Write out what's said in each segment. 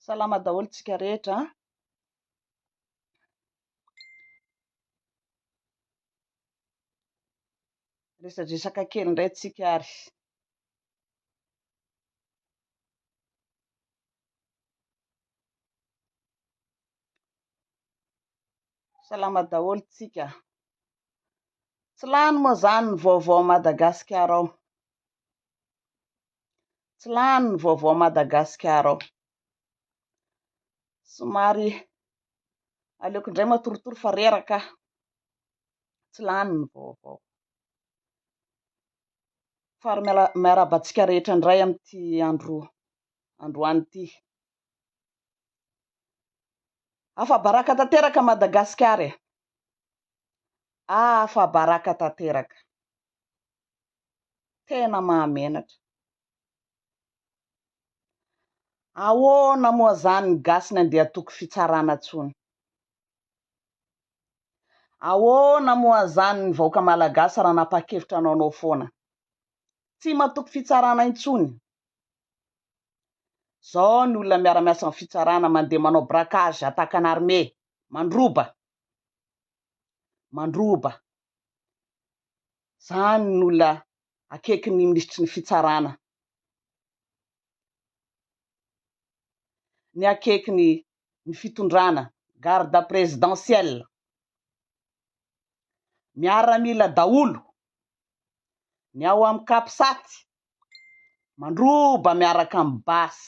Salama daholo tsika rehetra a. Resadresaka kely indray tsika ary. Salama daholo tsika. Tsy lany moa zany ny vaovao Madagasikara ao. Tsy lany ny vaovao Madagasikara ao. Somary aleoko indray matorotoro fa reraka. Tsy lany ny vaovao. Fary miaraba antsika rehetra indray amin'ity andro androany ity. Afabaraka tanteraka Madagasikara e! Afabaraka tanteraka! Tena mahamenatra! Ahoana moa zany ny gasy ny andeha hatoky fitsarana tsony? Ahoana moa zany ny vahoaka malagasy raha nanapakevitra anao anao foana? Tsy matoky fitsarana intsony! Zao ny olona miara-miasa amin'ny fitsarana mandeha manao braquage attaque en armé, mandroba, mandroba, zany ny olona akaiky ny minisitry ny fitsarana, ny akaiky ny ny fitondrana, garde présidentielle, miaramila daholo, ny ao amin'ny capsat Mandroba miaraka amin'ny basy.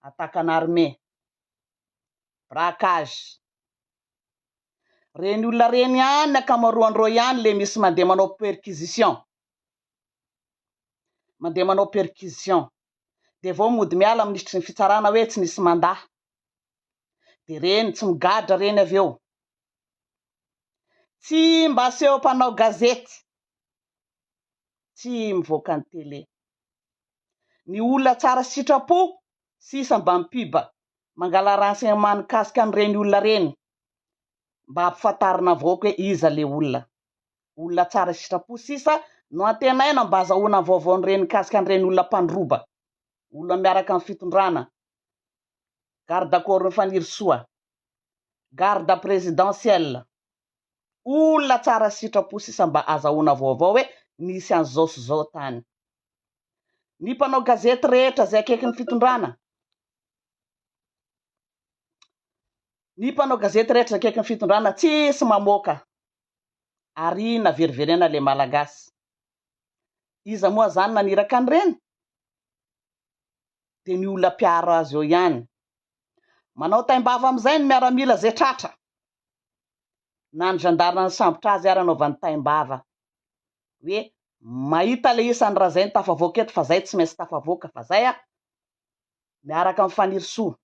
Attaque en armé. Braquage. Ireny olona ireny ihany ny ankamaroan'ireo ihany ilay misy mandeha manao perquisition. Mandeha manao perquisition. Dia vao mody miala ny minisitry ny fitsarana hoe tsy nisy manda. Dia ireny tsy migadra ireny avy eo. Tsy mba aseho mpanao gazety. tsy mivoaka ny télé. Ny olona tsara sitrapo sisa mba mipub mangala renseignement mikasika an'ireny olona ireny mba ampifantarina avaoka hoe iza le olona. Olona tsara sitrapo sisa no antenaina mba azahoana ny vaovao an'ireny mikasika an'ireny olona mpandroba. Olona miaraka amin'ny fitondrana. Garde corps Fanirisoa. Garde présidentielle. Olona tsara sitrapo sisa mba azahoana vaovao hoe nisy an'izao sy izao tany. Ny mpanao gazety rehetra izay akaiky ny fitondrana, ny mpanao gazety rehetra izay akaiky ny fitondrana tsisy mamoaka. Ariana veriverena le malagasy. Iza moa zany naniraka an'ireny? Dia ny olona mpiaro azy eo ihany. Manao taim-bava amin'izay ny miaramila izay tratra. na ny gendarme nisambotra azy ary anaovany taim-bava hoe mahita ilay isan'ny razainy tafavoaka eto fa zay tsy maintsy tafavoaka fa zay ah! miaraka amin'ny Fanirisoa,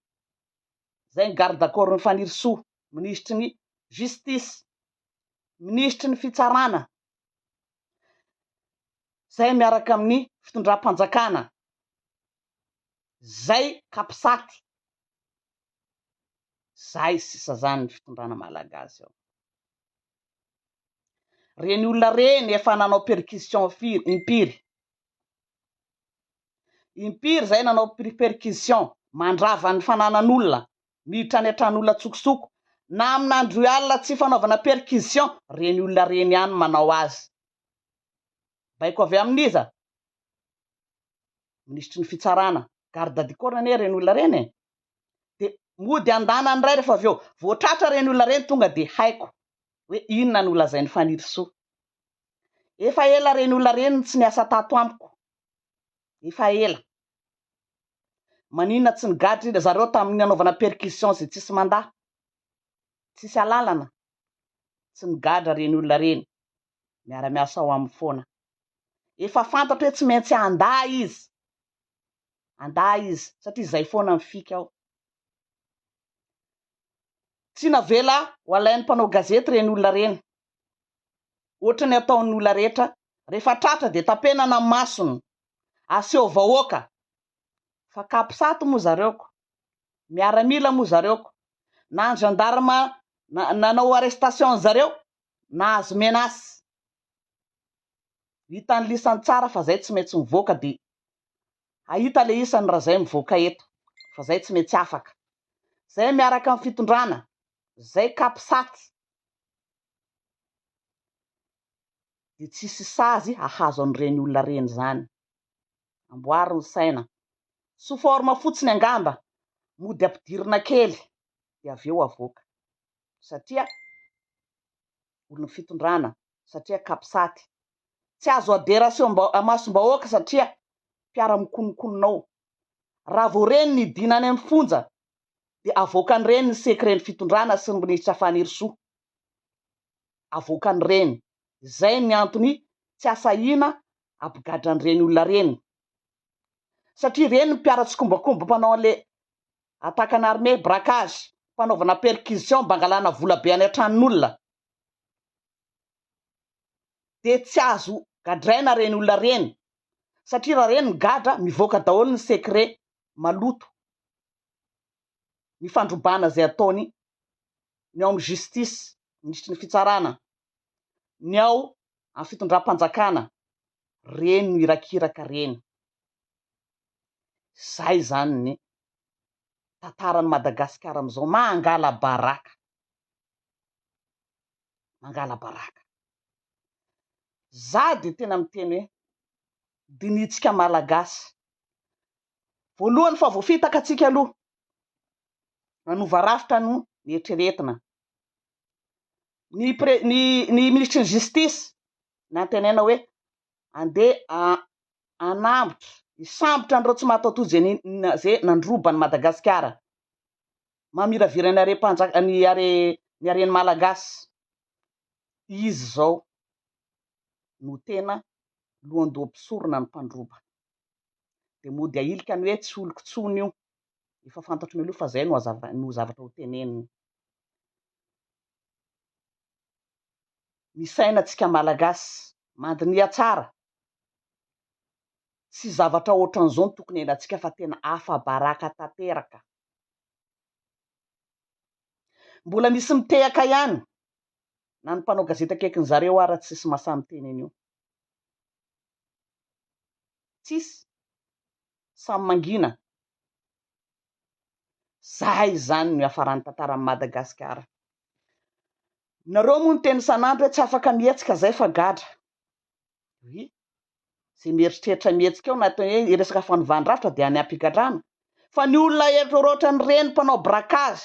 zay ny garde corps-n'ny Fanirisoa, minisitry ny justice, minisitry ny fitsarana, zay miaraka amin'ny fitondram-panjakana, zay capsat, Zay sisa zany ny fitondrana malagasy ao. Reny olona reny efa nanao perquisition firy, impiry. Impiry zay nanao perquisition, mandrava ny fananan'olona, miditra any an-tran'olona tsokosoko. Na amin'andro alina tsy fanaovana perquisition, reny olona reny ihany manao azy. Baiko avy amin'iza? Minisitry ny fitsarana. Garde du corps anie reny olona reny e. dia mody andana indray rehefa avy eo, voatratra ireny olona ireny tonga dia haiko hoe inona no lazain'i Fanirisoa, efa ela ireny olona ireny no tsy niasa tato amiko, efa ela, maninona tsy nigadra ry zareo tamin'ny nanaovana percussion izay tsisy manda, tsisy alalana, tsy nigadra ireny olona ireny, miara-miasa ao aminy foana, efa fantatro hoe tsy maintsy handa izy, andahy izy satria zay foana ny fika ao. Tsy navela ho alain'ny mpanao gazety ireny olona ireny, ohatra ny ataon'ny olona rehetra, rehefa tratra dia tapenana ny masony, aseho vahoaka fa capsat moa zareo ko, miaramila moa zareo ko, na ny gendarme nanao arrestation an'zareo nahazo menace. Hita ny lisany tsara fa zay tsy maintsy mivoaka de hahita le isany ra zay mivoaka eto fa zay tsy maintsy afaka zay miaraka am fitondrana zay capsat de tsisy sazy hahazo an'ireny olona reny zany amboary ny saina sous forme fotsiny angamba mody ampidirina kely de avy eo avoaka satria olon'ny fitondrana satria capsat. Tsy azo adera aseho amasom-bahoaka satria mpiara-mikonokonona ao. Raha vao reny ny dina any amin'ny fonja dia avoakan'ireny ny secret-n'ny fitondrana sy ny minisitra Fanirisoa. Avoakan'ireny. Izay ny antony tsy asahiana abigadran'ireny olona ireny. Satria ireny ny mpiara-tsikombakomba mpanao an'ilay attaque en armée, braquage, fanaovana perquisition mba hangalana vola be any an-tranon'olona. dia tsy azo gadraina ireny olona ireny satria raha ireny migadra mivoaka daholo ny secret maloto, ny fandrobana izay ataony ny ao amin'ny justice, minisitry ny fitsarana, ny ao amin'ny fitondram-panjakana, ireny no irakiraka ireny, izay izany ny tantaran'i Madagasikara amin'izao, mangala-baraka. mangala-baraka. Za dia tena miteny hoe dinihintsika Malagasy voalohany fa vao fitaka antsika aloha manova rafitra no nieritreretina. Ny, pre, ny, ny minisitry ny justice nantenaina hoe andeha anambotra hisambotra an'ireo tsy mahatoatoa izay nandroba an'i Madagasikara. mamiraviran ny harem-panjak ny hare ny haren'ny Malagasy izy zao no tena lohandoha mpisorona ny mpandroba de mody ahilika ny hoe tsy oloko tsony io efa fantatro mialoha fa zay no hazava no zavatra ho teneniny ny saina tsika Malagasy mandiniha tsara tsy zavatra ohatran'izao no tokony henantsika fa tena afa-baraka tanteraka Mbola misy mitehaka ihany na ny mpanao gazety akaikin zareo ara tsisy masaha miteny an'io. Tsisy. Samy mangina. Zahay izany no iafaran'ny tantaran'i Madagasikara. Nareo moa niteny isan'andro hoe tsy afaka mihetsika zay fa gadra. Oui, izay mieritreritra mihetsika ao anatin'ny hoe ny resaka fanovàn-drafitra dia any am-pigadrana. Fa ny olona erotrerony ohatran'ireny mpanao braquage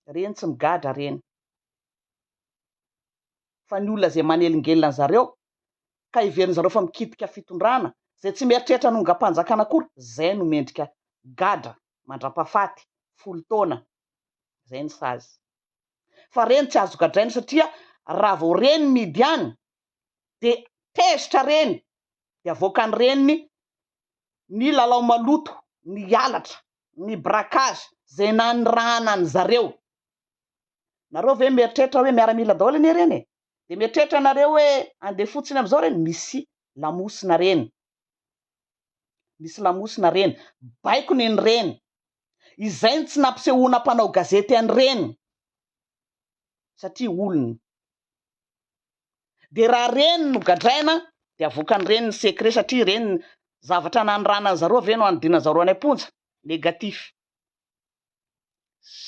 ireny tsy migadra ireny. Fa ny olona izay manelingelina an'i zareo ka heverin'i zareo fa mikitika fitondrana, izay tsy mieritreritra hanongam-panjakana akory, izay no mendrika gadra mandrapahafaty, folo taona. Izay ny sazy. fa reny tsy azo gadraina satria raha vao reny mihidy any de tezitra reny de avoakan'ny reniny ny lalao maloto, ny halatra, ny braquage, zay nanirahana an'i zareo. Nareo ve mieritreritra hoe miaramila daholo anie reny e? de mieritreritra nareo hoe andeha fotsiny amizao reny misy lamosina reny, misy lamosina reny, baikony ny reny izay no tsy nampisehoana mpanao gazety an'ireny satria olona dia raha ireny no gadraina dia avoakan'ireny ny secret satria ireny zavatra nanoranan'ny zareo avy eo no anodianan'ny zareo any am-ponja negatif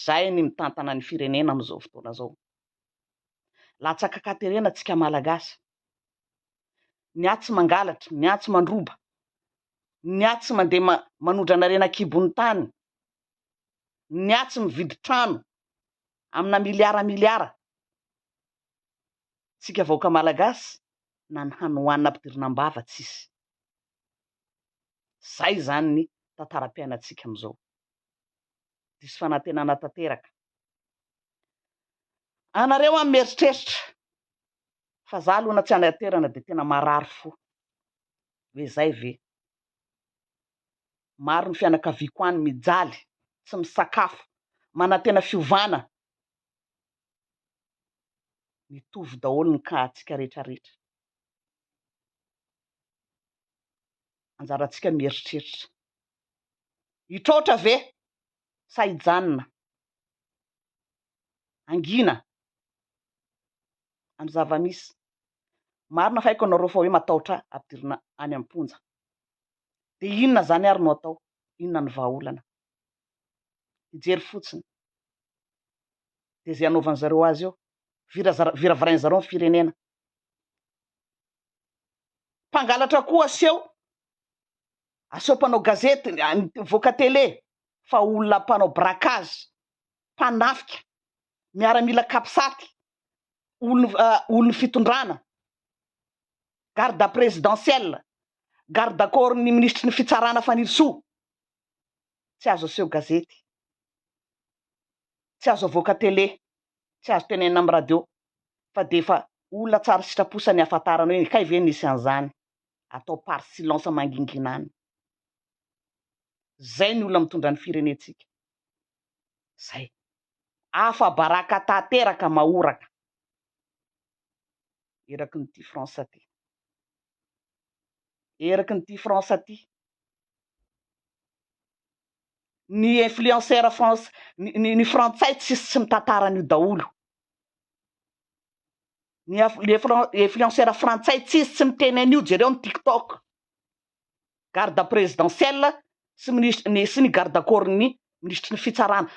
zay ny mitantana ny firenena amin'izao fotoana izao latsaka katerena tsika malagasy ny ahy tsy mangalatra, ny ahy tsy mandroba, ny ahy tsy mandeha manodrana reny an-kibon'ny tany, ny ahy tsy mividy trano amina miliara miliara, tsika vahoaka malagasy na ny hany hohanina ampidirina am-bava tsisy. Zay izany ny tantaram-piainantsika amin'izao. Diso fanantenana tanteraka. Anareo an mieritreritra fa za alona tsy any aterana de tena marary fo hoe zay ve maro ny fianakaviako any mijaly tsy misakafo manantena fiovana mitovy daholo ny cas tsika rehetra rehetra anjaratsika mieritreritra hitraotra ve sa hijanona angina amin'ny zava-misy. Marina fa haiko ianareo fa hoe matahotra ahy ampidirina any am-ponja. Dia inona izany ary no atao? Inona no vahaolana? Hijery fotsiny. Dia izay hanaovan'i zareo azy eo. Vira, viravirain'i zareo ny firenena. Mpangalatra koa aseho, aseho mpanao gazety, mivoaka tele, fa olona mpanao braquage, mpanafika, miaramila capsat, olon'ny olon'ny fitondrana, garde présidentielle, garde corps ny minisitry ny fitsarana Fanirisoa, tsy azo aseho gazety, tsy azo avoaka télé, tsy azo tenenina amin'ny radio fa dia efa olona tsara sitrapo sa ny ahafantarana hoe kay ve nisy an'izany, atao par silence mangingina any. Izay ny olona mitondra ny firenentsika. Zay. Afa baraka tateraka mahoraka. Eraky ny tia France ty. Eraky ny tia France ty. Ny influenceur France ny, ny, ny frantsay tsy tsy mitantara an'io daholo. Ny influenceur frantsay tsy tsy miteny an'io jereo ny TikTok. garde présidentielle sy minisitry ny sy ny garde corps ny minisitry ny fitsarana,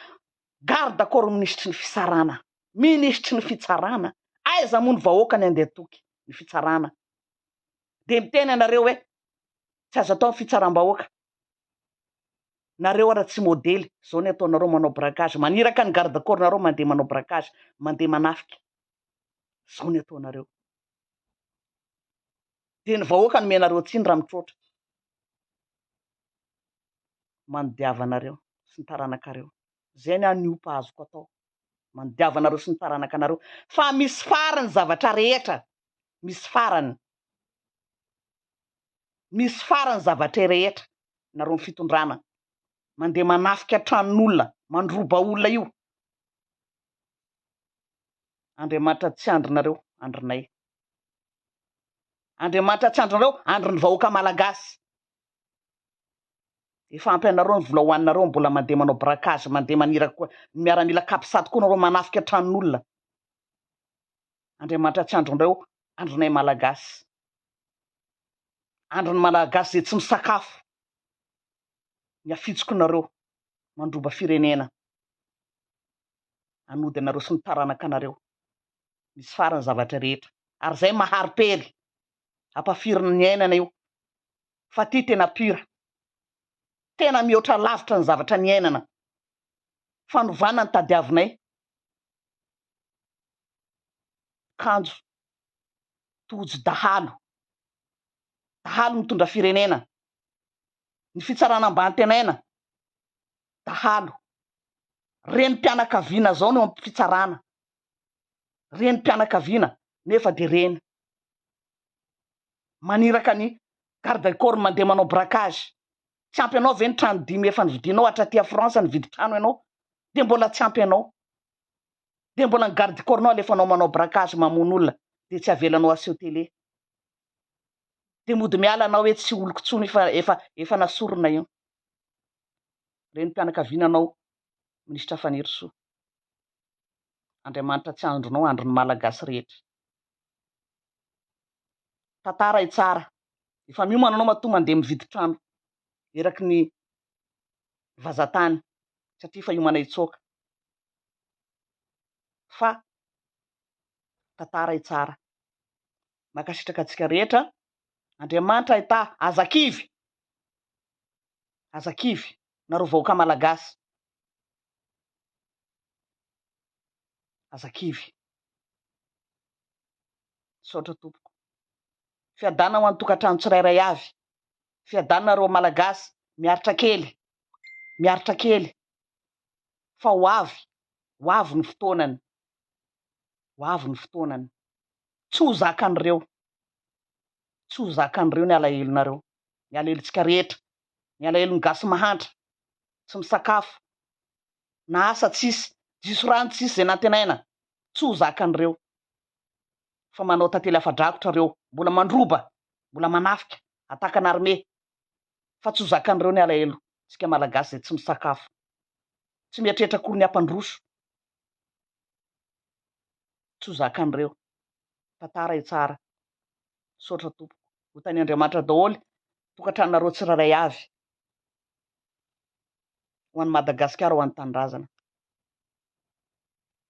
garde corps minisitry ny fisarana, minisitry ny fitsarana, aiza moa ny vahoaka ny andeha toky ny fitsarana dia miteny anareo hoe tsy azo atao ny fitsarambahoaka, nareo ara tsy modely zao ny ataonareo manao braquage maniraka ny garde corps nareo mandeha manao braquage mandeha manafika zao ny ataonareo. Dia ny vahoaka hanome anareo tsiny raha mitroatra. Manodiava anareo sy ny taranakareo. Izay ny ahy ny opa azoko atao. Manodiava anareo sy ny taranakanareo. Fa misy farany ny zavatra rehetra. Misy farany. Misy farany ny zavatra rehetra. Nareo ny fitondrana. Mandeha manafika tranon'olona, mandroba olona io. Andriamanitra tsy andrinareo, andrinay. Andriamanitra tsy andrinareo, andrin'ny vahoaka malagasy. Efa ampy anareo ny vola hoaninareo, mbola mandeha manao braquage, mandeha manira koa, ny miaramila capsat koa nareo manafika tranon'olona. Andriamanitra tsy andrinareo, andrinay malagasy. Andrin'ny malagasy izay tsy misakafo, ny afitsokinareo, mandroba firenena. hanody anareo sy ny taranakanareo misy farany zavatra rehetra ary zay mahary pery ampafirin'ny ny ainana io fa ty tena pure tena mihoatra lavitra ny zavatra niainana fanovana ny tadiavinay kanjo tojo dahalo dahalo mitondra firenena ny fitsarana ambany tenaina dahalo, renim-pianakaviana zao no am fitsarana, renim-pianakaviana nefa de reny maniraka ny garde corps mandeha manao braquage, tsy ampy anao ve ny trano dimy efa novidinao, hatra aty a France nividy trano ianao de mbola tsy ampy anao, de mbola ny garde corps nao alefanao manao braquage mamono olona de tsy avelanao aseho télé, de mody miala anao hoe tsy oloko tsony fa efa efa nasorona io. renim-pianakaviananao Minisitra Fanirisoa. Andriamanitra tsy andronao, andron'ny Malagasy rehetra. Tantara e tsara. Efa miomana anao matoa mandeha mividy trano eraky ny vazatany satria efa hiomana hitsoaka. Fa tantara e tsara. Mankasitraka antsika rehetra. Andriamanitra aitaha, aza kivy. Aza kivy, nareo vahoaka Malagasy. Aza kivy. Misaotra tompoko. Fiadanana ho an'ny tokantrano tsirairay avy. Fiadanana reo Malagasy. Miaritra kely. Miaritra kely. Fa ho avy. Ho avy ny fotoanany. Ho avy ny fotoanany. Tsy ho zakan'ireo. tsy ho zakan'ireo ny alahelonareo, ny alahelontsika rehetra, ny alahelon'ny gasy mahantra, tsy misakafo, na asa tsisy, diso rano tsisy izay nantenaina, tsy ho zakan'ireo, fa manao tantely afa-drakotra ireo, mbola mandroba, mbola manafika, attaque en armée, fa tsy ho zakan'ireo ny alahelontsika malagasy izay tsy misakafo, tsy mieritreritra akory ny hampandroso, tsy ho zakan'ireo. tantara io tsara misaotra tompoko ho tany Andriamanitra daholo tokantranonareo tsirairay avy ho any Madagasikara ho any tanindrazana.